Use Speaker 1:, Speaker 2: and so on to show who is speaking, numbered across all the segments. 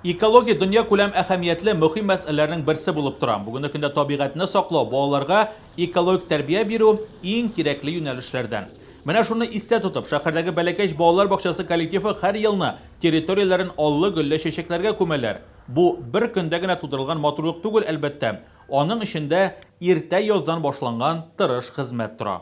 Speaker 1: Экология дөньякүләм әһәмиятле мөһим мәсьәләләрнең берсе булып тора. Бүгенге көндә табигатьне саклау, балаларга экологик тәрбия бирү, иң кирәкле юнәлешләрдән. Менә шуны истә тотып, шәһәрдәге Бәләкәч балалар бакчасы коллективы һәр елны территорияләрен аллы-гөлле чәчәкләргә күмәләр. Бу, бер көндә генә тудырылган матурлык түгел, әлбәттә. Аның эчендә иртә яздан башланган тырыш хезмәт тора.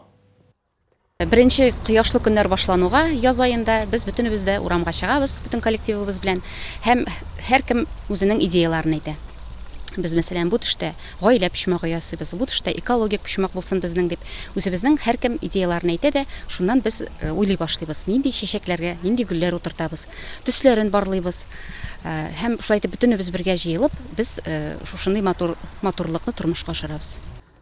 Speaker 2: Беренче кояшлы көннәр башлануга, яз аенда, без бөтенебез дә урамга чыгабыз, бөтен коллективыбыз белән, һәм һәркем үзенең идеяләрен әйтә. Без, мәсәлән, бу төштә гаилә почмагы ясыйбыз, бу төштә экологик почмак булсын безнең, дип, үзебезнең һәркем идеяләрен әйтә дә, шуннан без уйлый башлыйбыз, нинди чәчәкләргә нинди гөлләр утыртабыз, төсләрен барлыйбыз. Һәм шулай итеп бөтенебез бергә җыелып, без шушындый матур матурлыкны тормышка ашырабыз.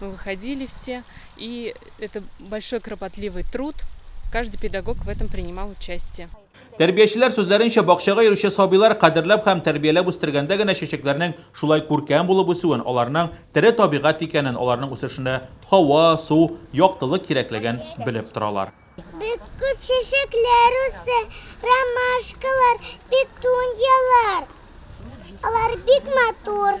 Speaker 3: мы выходили все и это большой кропотливый труд каждый педагог в этом принимал участие Тәрбиячеләр
Speaker 1: сүзләренчә, бакчага йөрүче сабыйлар кадерләп һәм тәрбияләп үстергәндә генә чәчәкләрнең шулай күркәм булып үсүен, аларның тере табигать икәнен, аларның үсешенә һава, су, яктылык кирәклеген белеп торалар. Бик күп
Speaker 4: чәчәкләр үсә, ромашкалар, петуньялар. Алар бик матур.